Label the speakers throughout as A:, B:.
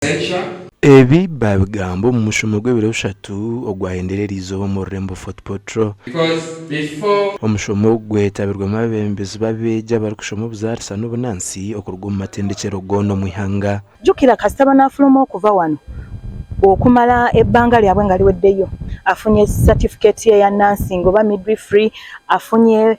A: Adventure. Ebi baabigamba omu mushomo gw'ebiro bishatu ogwahendire eri izooba omu rurembo Fort Portal. Because before. Omushomo ogu gwetabirwemu abeebembezi b'abeegi abarikushoma obuzaarisa n'obunaansi okuruga omu matendekyero goona omu ihanga. Jukira kasita
B: banafuluma okuva wano okumara ebanga ryabwe ngariweddeyo afunye certificate ye ya nursing oba midwifery afunye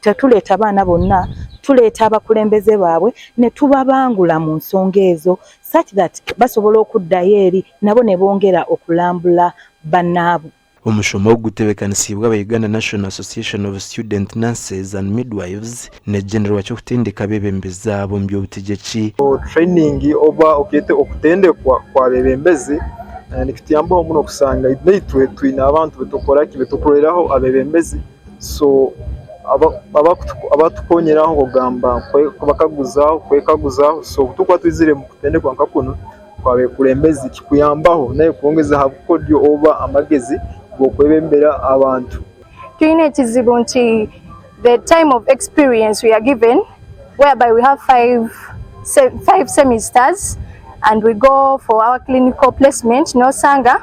B: Tetureeta abaana bonna, tureeta abakulembeze baabwe nitubabangula mu nsonga ezo such that basobole okuddayo eri nabo nibongera okulambula banaabwe. Omushomo ogu
A: gutebekanisiibwe aba Uganda National Association of Student Nurses and Midwives n'ekigendererwa ky'okutendeka abebembezi abo omu by'obutegyeki. Training
C: oba okeete okutendekwa kw'abebembezi nikituyambaho muno kushanga naitwe twine abantu betukukoraki, betukuroreraho abebembezi. so abatukonyera aho kugamba kubakaguzaho kwekaguzaho so kutukuba twizire mukutendekwa nka kunu kwa bekurembezi kikuyambaho nawe kwongeza aha bukodyo oba amagezi gokwebembera abantu. Twine ekizibu
D: nti the time of experience we are given whereby we have five semesters and we go for our clinical placement nosanga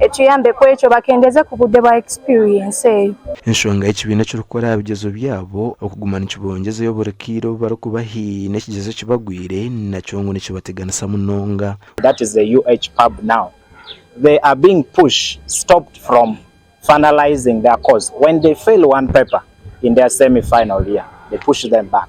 D: Ekiyambe ku ekyo bakendeeze ku budde bwa experience eyo. Enshonga ekibiina
A: ekirikukora aha bigyezo byabo okuguma nikibongyezeyo buri kaire obu barikuba haine ekigyezo ekibagwire nakyo ngu nikibateganisa munonga. That is the
E: UHPAB now they are being push stopped from finalising their course when they fail one paper in their semi final year they push them back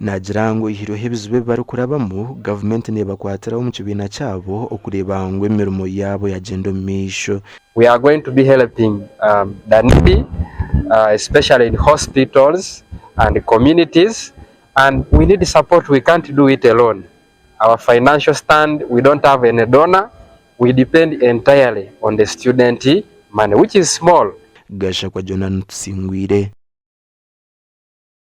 A: Naagira ngu oyihireho ebizibu ebi barikurabamu, gavumenti neebakwatiraho omu kibiina kyabo okureeba ngu emirimo yaabo yaagyenda omu maisho. We are going to be
F: helping Danidi especially in hospitals and communities and we need support we can't do it alone our financial stand we don't have any donor we depend entirely on the student money which
A: is
F: small.
A: Gashakwa
F: Jonah
A: Tusingwire.